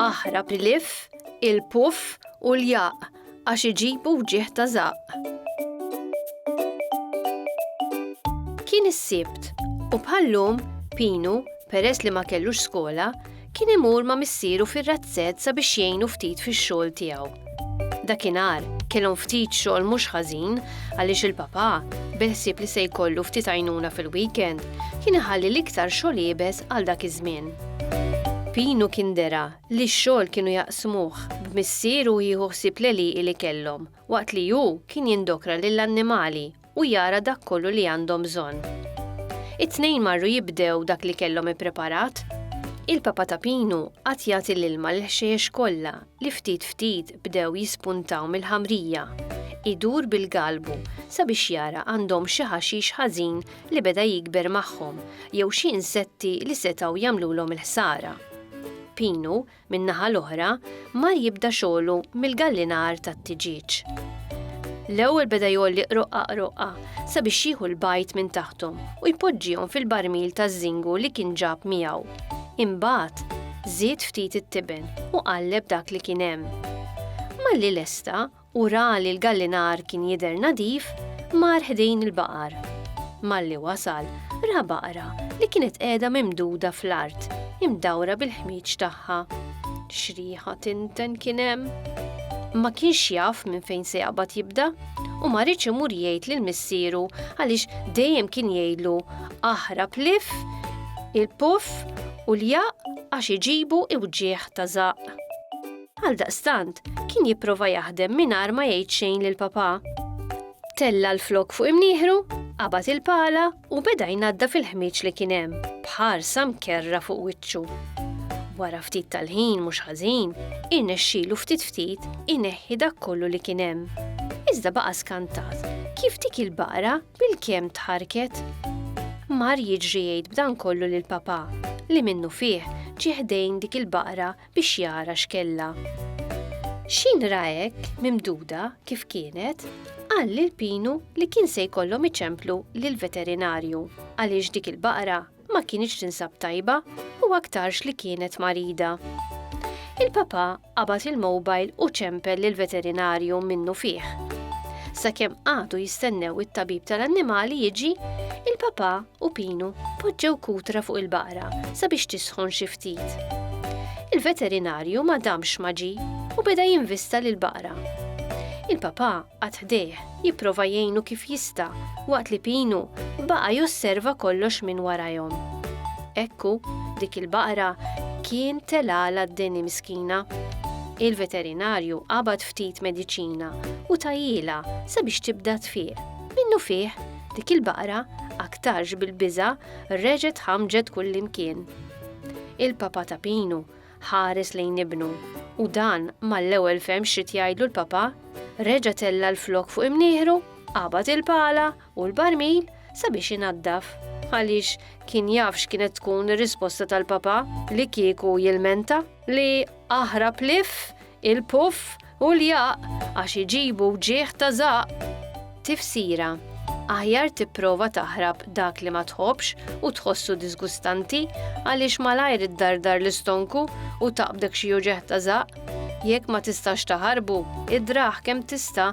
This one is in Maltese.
Aħrab iliff, il-puff u l-jaq għax iġibu wġieħ ta' zaq. Kien is-sibt u bħallum Pinu, peress li ma kellux skola, Kien imur ma' missieru fir-razzett sabiex jgħinu ftit fix-xogħol tiegħu. Dakinhar, kellhom ftit xogħol mhux ħażin għaliex il-papà, bil-ħsieb li se jkollu ftit għajnuna fil-weekend, kien iħalli l-iktar xogħol iebes għal dak iż-żmien. Pinu kien dera li x-xogħol kienu jaqsmuh b'missieru jieħu ħsieb l-għelieqi li kellhom, waqt li hu kien jindokra lill-annimali u jara dak kollu li għandhom bżonn. It-tnejn marru jibdew dak li kellhom ippreparat. Il-Papa ta' Pinu qagħad jagħti l-ilma lill-ħxejjex kollha li ftit ftit bdew jispuntaw mill-ħamrija. Idur bil-galbu sabiex jara għandhomx xi ħaxix ħażin li beda jikber magħhom jew xi insetti li setgħu jagħmlulhom il-ħsara. Pinu min-naħa l-oħra, mar jibda xogħlu mill-gallinar tat-tiġieġ. L-ewwel beda jgħolli qroqqa qroqqa sabiex jieħu l-bajd minn taħthom u jpoġġihom fil-barmil taż-żingu li kien ġab miegħu. Imbagħad, żied ftit it-tiben u qalleb dak li kien hemm. Malli lesta, u ra li l-gallinar kien jidher nadif, mar ħdejn il-baqar. Malli wasal, ra baqra li kienet qiegħda mimduda fl-art, imdawra bil-ħmieġ tagħha. X'riħa tinten kien hemm! Ma kienx jaf minn fejn se jaqbad jibda u ma riedx imur jgħid lil missieru għaliex dejjem kien jgħidlu aħrab lif, il-puff u ljaq għax iġibu iwġigħ ta' żaqq. Għaldaqstant, kien jipprova jaħdem mingħajr ma jgħid xejn lil papà. Tella l-flok fuq imnieħru, qabad il-pala u beda jnadda fil-ħmieġ li kien hemm, bħarsa mkerra fuq wiċċu. Wara ftit tal-ħin mhux ħażin, irnexxielu ftit ftit ineħħi dak kollu li kien hemm. Iżda baqa' skantat kif dik il-baqra bil-kemm tħarket. Mar jiġri jgħid b'dan kollu lil papà li minnu fih ġieħdejn dik il-baqra biex jara x'kellha. X'in ra hekk mimduda kif kienet, qal lil Pinu li kien se jkollhom iċemplu lill-veterinarju għaliex dik il-baqra ma kinitx tinsab tajba u aktarx li kienet marida. Il-papà qabad il-mobile u ċempel lill-veterinarju minnu fih. Sakemm qagħdu jistennew it-tabib tal-annimali jiġi, il-papà u Pinu poġġew kutra fuq il-baqra sabiex tisħon xi ftit. Il-veterinarju ma damx ma ġi u beda jinvista lil baqra. Il-papà għad ħdejh jipprova jgħinu kif jista' waqt li Pinu baqa' josserva kollox minn warajhom. Ekku, dik il-baqra kien telala d-deni miskina. Il-veterinarju qabad ftit mediċina u tajjila sabiex tibda tfieq. Minnu fih, Dik il-baqra, aktarx bil-biża', reġgħet ħamġet kullimkien. Il-papa ta' Pinu ħares lejn ibnu u dan mal-ewwel fehm x'rid jgħidlu l-papa, reġa' tella' l-flokk fuq imnieħru, qabad il-pala u l-barmil sabiex inaddaf għaliex kien jaf x'kienet tkun ir-risposta tal-papa li kieku jilmenta li aħrab lif Il-puff u l-jaqq għax iġibu wġigħ ta' żaqq. Tifsira, Aħjar tipprova taħrab dak li ma tħobbx u tħossu diżgustanti għaliex malajr iddardar l-istonku u taqbdek xi uġigħ ta' żaqq. Jekk ma tistax taħarbu, idrah kemm tista'